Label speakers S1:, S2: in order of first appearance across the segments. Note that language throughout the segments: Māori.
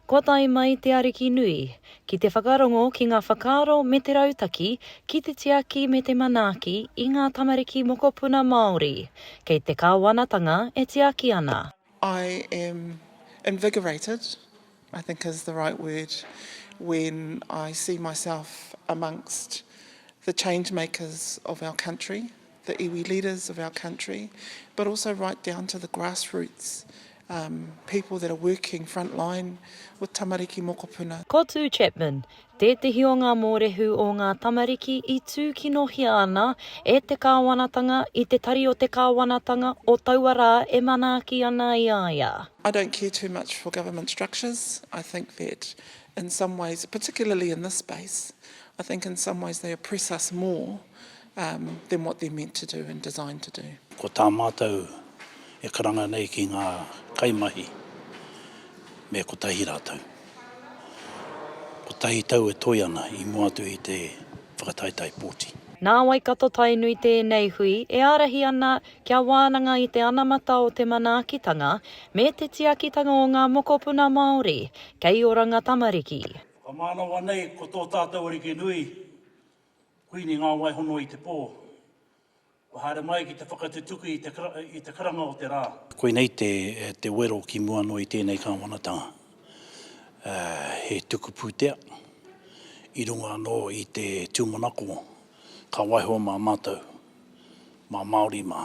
S1: Kua tae mai te Ariki nui, ki te whakarongo ki ngā whakaaro me te rautaki ki te tiaki me te manaaki i ngā tamariki mokopuna Māori. Kei te Kāwanatanga e tiaki ana. I am invigorated, I think is the right word, when I see myself amongst the change makers of our country. the iwi leaders of our country, but also right down to the grassroots um, people that are working front line with tamariki mokopuna. Ko Tū Chapman, tētehi o ngā mōrehu o ngā tamariki i tūkinohia ana e te kāwanatanga i te tari o te kāwanatanga o taua rā e manaaki ana i a ia. I don't care too much for government structures. I think that in some ways, particularly in this space, I think in some ways they oppress us more than what they're meant to do and designed to do. Ko tā mātou e karanga nei ki ngā kaimahi, me kotahi rātou. Kotahi tau e toe ana i mua atu i te whakataetae pōti. Nā Waikato Tainui tēnei hui e ārahi ana kia wānanga i te anamata o te manaakitanga me te tiakitanga o ngā mokopuna Māori kei oranga tamariki. Whakamānawa nei ko tō tātou ariki nui, Kuini ngā waihono i te pō. Kua haere mai ki te whakatutuki i te karanga o te rā. Koinei te wero ki mua noa i tēnei kāwanatanga. He tuku pūtea i runga anō i te tūmanako ka waiho mā mātou, mā Māori mā.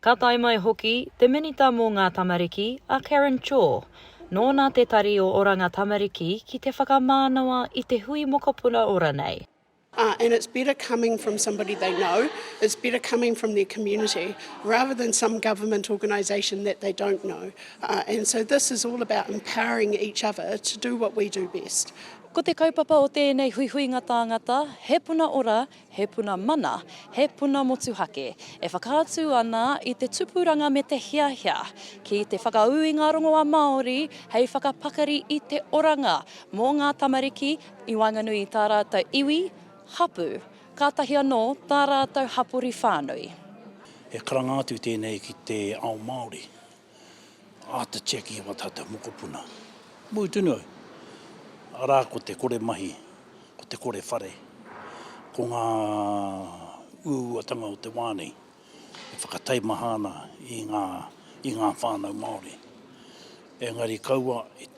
S1: Ka tae mai hoki te Minita mō ngā Tamariki, a Karen Chore. Nōna te Tari o Oranga Tamariki ki te whakamānawa i te hui mokopuna ora nei. And it's better coming from somebody they know, it's better coming from their community rather than some government organisation that they don't know. And so this is all about empowering each other to do what we do best. Ko te kaupapa o tēnei huihuinga tāngata, he puna ora, He puna mana, he puna motuhake, e whakaatu ana i te tupuranga me te hiahia ki te whakaū i ngā rongoā Māori hei whakapakari i te oranga mō ngā tamariki i waenganui i tā rātou iwi, hapū, kātahi anō tā rātou hapori whānui. He karanga atu tēnei ki te ao Māori. Āta check i ngā tātou mokopuna. Mui tonu au, arā ko te kore mahi, ko te kore whare, ko ngā uauatanga o te wā nei e whakataimaha ana i ngā whānau Māori. Engari kaua e.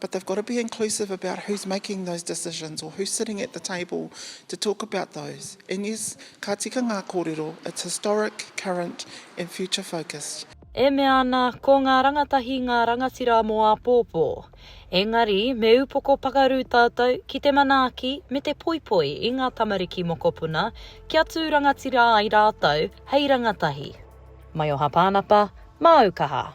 S1: but they've got to be inclusive about who's making those decisions or who's sitting at the table to talk about those. And yes, ka tika ngā kōrero, it's historic, current and future focused. E mea ana, ko ngā rangatahi ngā rangatira mō āpōpō. Engari, me upoko pakaru tātou ki te manaaki me te poipoi i ngā tamariki mokopuna kia tū rangatira ai rātou hei rangatahi. Maioha Pānapa, Māu Kaha.